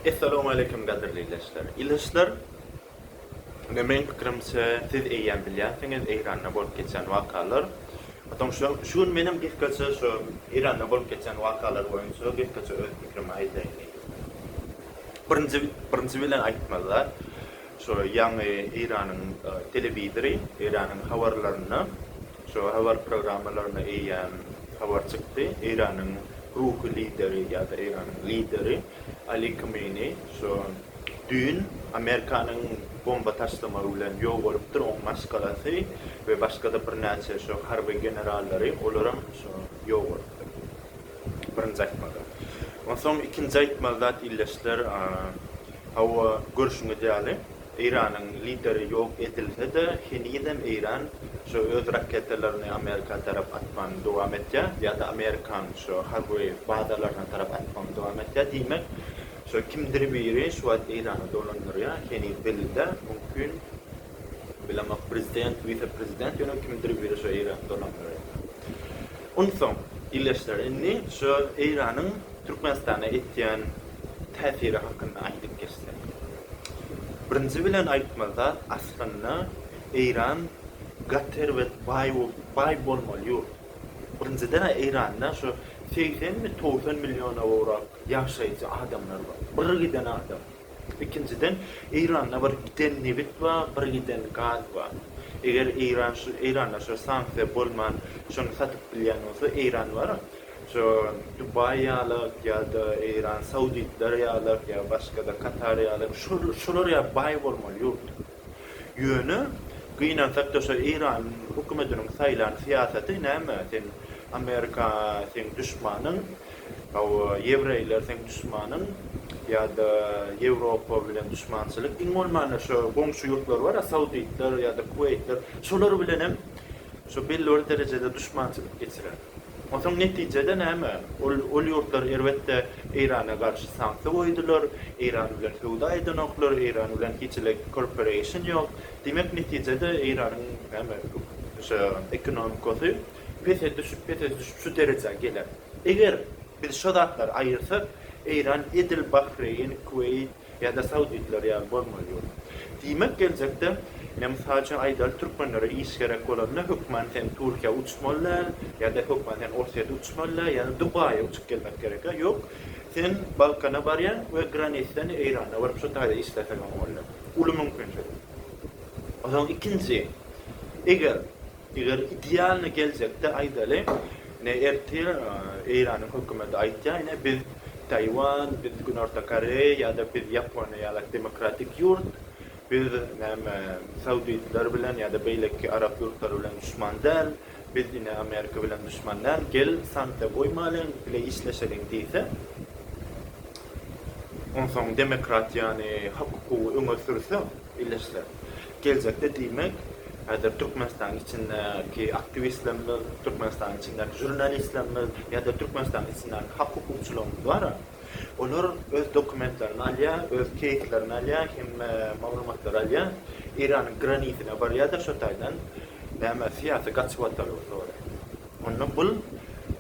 Essalamualeýkum gadyrly ileçler. Ileçler ine meň pikirimçe siz eýýäm bilýänsiňiz Eýranda bolup geçen wakalar. Atam şu şu gün menem gysgaça şu Eýranda bolup geçen wakalar boýunça gysgaça öz pikirimi aýdaýyn diýdim. Birinji birinji bilen aýtmaly şu ýaňy Eýranyň telewizory Eýranyň habarlarynda Şu habar programmalaryna eýýäm habar çykdy, Eýranyň ruhy lideri ýa-da Eýranyň lideri Ali Kmeini şu düýn Amerikanyň bomba taşlamagy bilen ýok bolupdyr, oň maşgalasy we başga-da birnäçe şu harby generallary, olaram şu ýok bolupdyr diýip, birinji aýtmagy. Onsoň ikinji aýtmaly zat, ildeşler, hawa, görşüňiz ýaly, Eýranyň lideri ýok edilse-de, henizem Eýran şu öz raketalaryny Amerika tarap atmagyny dowam etýär, ýa-da Amerikan şu harby bazalaryna tarap atmagyny dowam etýär. Diýmek, şu kimdir biri şu wagt Eýrany dolandyrýar, heniz belli-de, mümkin, bilemok, prezident, wise-prezident, ýöne kimdir biri şu Eýrany dolandyrýar. Onsoň, ildeşler, indi şu Eýranyň Türkmenistana etýän täsiri hakynda aýdyp geçsek. Birinji bilen aýtmaly zat, aslynda Eýran gaz serwet baý baý bolmaly ýurt. Birinjiden-ä Eýranda şu segsenmi, togsan milliona gowrak ýaşaýjy adamlar bar. Bir giden adam. Ikinjiden Eýranda bir giden nebit bar, bir giden gaz bar. Eger Eýran şu Eýranda şu sanksiýa bolman şony satyp bilýän bolsa Eýran wara Şu Dubaý ýalak ýa-da Eýran, Sauditler ýalak ýa başga-da Katar ýalak şol şolar ýaly baý bolmaly ýurt. Ýöne gynansak-da şu Eýran hökümetiniň saýlan syýasaty näme sen Amerika seň duşmanyň, hawa ýewreýler seň duşmanyň ýa-da Ýewropa bilen duşmançylyk iň bolmanda şu goňşy ýurtlar bar-a Sauditler ýa-da Kuweýtler şolar bilenem şu belli bir derejede duşmançylyk geçirer. Onsoň netije-de näme? Ol ol ýurtlar erbetde Eýrana garşy sanksiýa goýdular, Eýran bilen söwda edenoklar, Eýran bilen hiç hili korporeýşn ýok. Diýmek netije-de Eýranyň näme şu ekonomikasy pese düşüp, pese düşüp şu derejä geler. Eger biz şo zatlary aýyrsak, Eýran edil Bahreýn, Kuweýt, Ýa-da sauditler ýaly bolmaly ýöne. Diýmek geljekde men mysal üçin aýdaly türkmenlere iş gerek bolanda hökman sen Türkiýä uçmaly däl, ýa-da hökman sen Orsýete uçmaly däl, ýa-da Dubaýa uçup gelmek gerek-ä. Ýok, sen Balkana barýaň we granisden Eýrana baryp şu taýda işleseňem bolýar. Uly mümkinçilik. Onsoň ikinji, eger Eger idealnyý geljekde aýdaly, ine ertir Eýranyň hökümeti aýtýar, ine biz Taýwan, biz Günorta Koreýa ýa-da biz Ýaponiýa ýalak demokratik ýurt, biz näme saudiýtler bilen ýa-da beýleki arap ýurtlary bilen duşman däl, biz ine Amerika bilen duşman däl, gel sanksiýa goýmalyň, bile işleşeliň diýse, onsoň demokratiýany, hak-hukugy öňe sürse, Birleşse. Geljekde diýmek, häzir Türkmenistanyň içindäki aktiwistlerimiz, Türkmenistanyň içindäki žurnalistlerimiz ýa-da Türkmenistanyň içindäki hak-hukukçylarymyz bar-a, olar öz dokumentlerini alýar, öz keýslerini alýar, hemme maglumatlary alýar, Eýranyň granisine barýar-da, şo taýdan, näme, syýasy gaçybatalga soraýar. Onda bul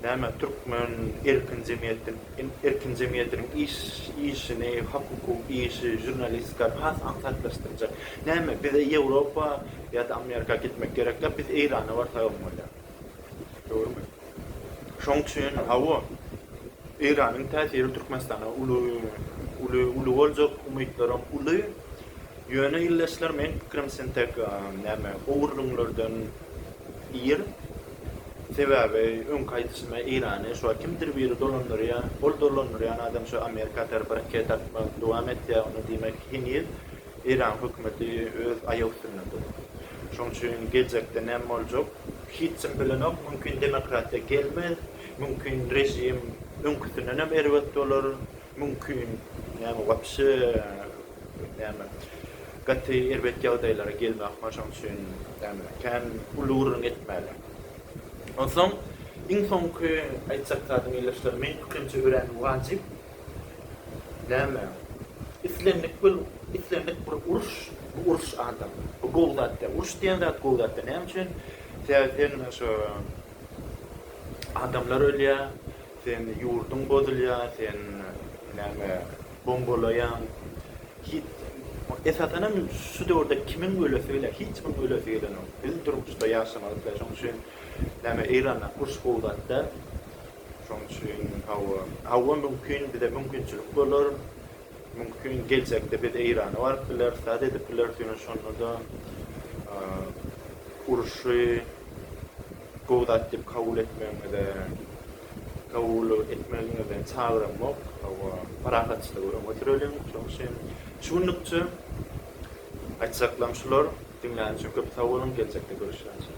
näme türkmen erkin jemgyýetdin erkin jemgyýetiniň iş işini hakuky işi žurnalistikany has aňsatlaşdyrjak näme bize ýewropa ýada amerika gitmek gerek ýok biz eýrana barsak hem bolýar dogrymy şoň üçin hawa eýranyň täsiri türkmenistana uly uly uly boljak umytlaram uly ýöne ildeşler meň pikirim sen tek näme ogurlyňlardan Ir. Sebäbi öňki aýdyşyma eýrany şuwagt kimdir biri dolandyrýar. Ol dolandyrýan adam şu Amerika tarapy raket atmagy dowam etýär. Onda diýmek heniz Eýran hökümeti öz aýak üstünde dur. Şoň üçin geljekde näme boljak hiç kim bilenok. Mümkin demokratiýa gelmez. Mümkin režim öňküsinden hem erbet bolar. Mümkin näme wapşe Näme, gaty erbet ýagdaýlara gelmek maň şoň üçin, näme, kän uly gürrüň etmäli. Onsoň, iň soňky aýtjak zadym, ildeşler, meň pikirimçe örän wajyp, näme, islendik bir, islendik bir uruş, bu uruş adam, bu gowy zat däl. Uruş diýen zat gowy zat däl. Näme üçin? Sebäbi sen şo adamlar ölýär. Sen ýurduň bozulýa sen näme bombalaýaň hiç esasanam şu döwürde kimiň ölesi gelýa hiç kimiň ölesi gelenok biz durmuşda ýaşamak isleýa şoň üçin näme eýrana urş gowzatda şoň üçin hawa hawa mümkin bize mümkinçilik bolar mümkin geljekde biz eýrana baryp bileris zat edip bileris ýöne şonda da urşy Gowy zat diýip kabul etmegiňize, kabul etmegiňize çagyramok. Hawa, parahatçylygy öňe süreliň. Şonuň üçin şu günlükçe aýtjaklarym şular. Diňlän üçin köp sag boluň, geljekde görüşýänçä.